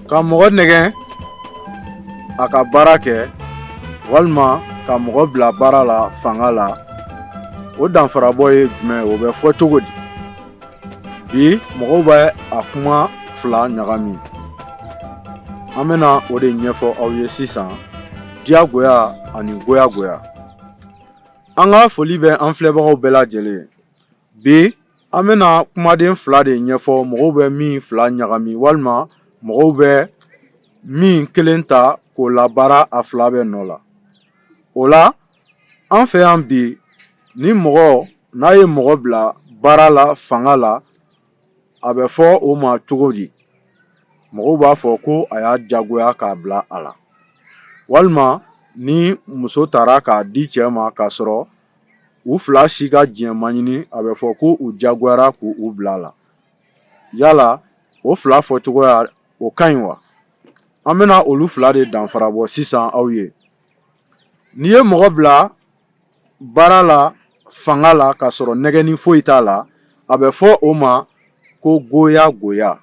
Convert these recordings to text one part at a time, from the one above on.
ka mɔgɔ nɛgɛ a ka baara kɛ walima ka mɔgɔ bila baara la fanga la o danfarabɔ ye jumɛn o bɛ fɔ cogo di bi mɔgɔw bɛ a kuma fila ɲagami an bɛna o de ɲɛfɔ aw ye sisan diyagoya ani goyagoya an ka foli bɛ an filɛbagaw bɛɛ lajɛlen bi An bɛna kumaden fila de ɲɛfɔ mɔgɔw bɛ min fila ɲagami walima mɔgɔw bɛ min kelen ta k'o labaara a fila bɛɛ nɔ la o la an fɛ yan bi ni mɔgɔ n'a ye mɔgɔ bila baara la fanga la a bɛ fɔ o ma cogo di mɔgɔw b'a fɔ ko a y'a jagoya k'a bila a la walima ni muso tara k'a di cɛ ma k'a sɔrɔ u fila si ka diɲɛ ma ɲini a bɛ fɔ ko u jagoyara k'u bila a la yala o fila fɔ cogoya o ka ɲi wa an bɛna olu fila de danfara bɔ sisan aw ye n'i ye mɔgɔ bila baara la fanga la k'a sɔrɔ nɛgɛni foyi t'a la a bɛ fɔ o ma ko goyagoya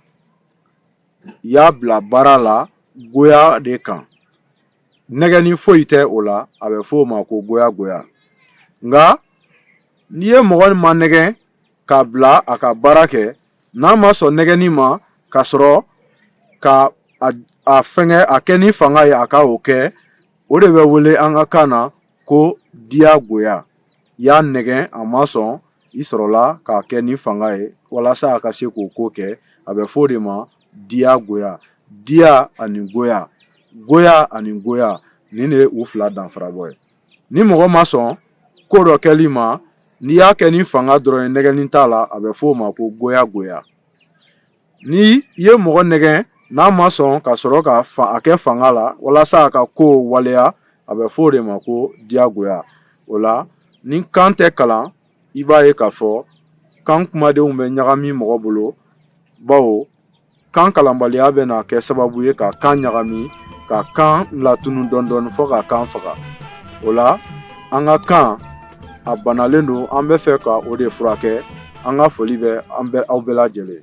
y'a bila baara la goya de kan nɛgɛni foyi tɛ o la a bɛ fɔ o ma ko goyagoya nka n'i ye mɔgɔ manɛgɛ k'a bila a ka baara kɛ n'a ma sɔn nɛgɛni ma ka sɔrɔ ka a fɛnkɛ a kɛ ni fanga ye a ka o kɛ o de bɛ wele an ka kan na ko diyagoya i y'a nɛgɛn a ma sɔn i sɔrɔla k'a kɛ ni fanga ye walasa a ka se k'o ko kɛ a bɛ fɔ o de ma diyagoya diya ani goya goya ani goya nin de ye u fila danfarabɔ ye ni mɔgɔ ma sɔn ko dɔ kɛli ma n'i y'a kɛ ni fanga dɔrɔn ye nɛgɛni t'a la a bɛ fɔ o ma ko goyagoya Ni i ye mɔgɔ nɛgɛ n'a ma sɔn ka sɔrɔ ka a kɛ fanga la walasa a ka ko waleya a bɛ fɔ o de ma ko diyagoya o la ni kan tɛ kalan i b'a ye k'a fɔ kan kumadenw bɛ ɲagami mɔgɔ bolo bawo kan kalanbaliya bɛna kɛ sababu ye ka kan ɲagami ka kan latunu dɔɔnin dɔɔnin fɔ ka kan faga o la an ka kan a banalen don an bɛ fɛ ka o de furakɛ an ka foli bɛ aw bɛɛ lajɛlen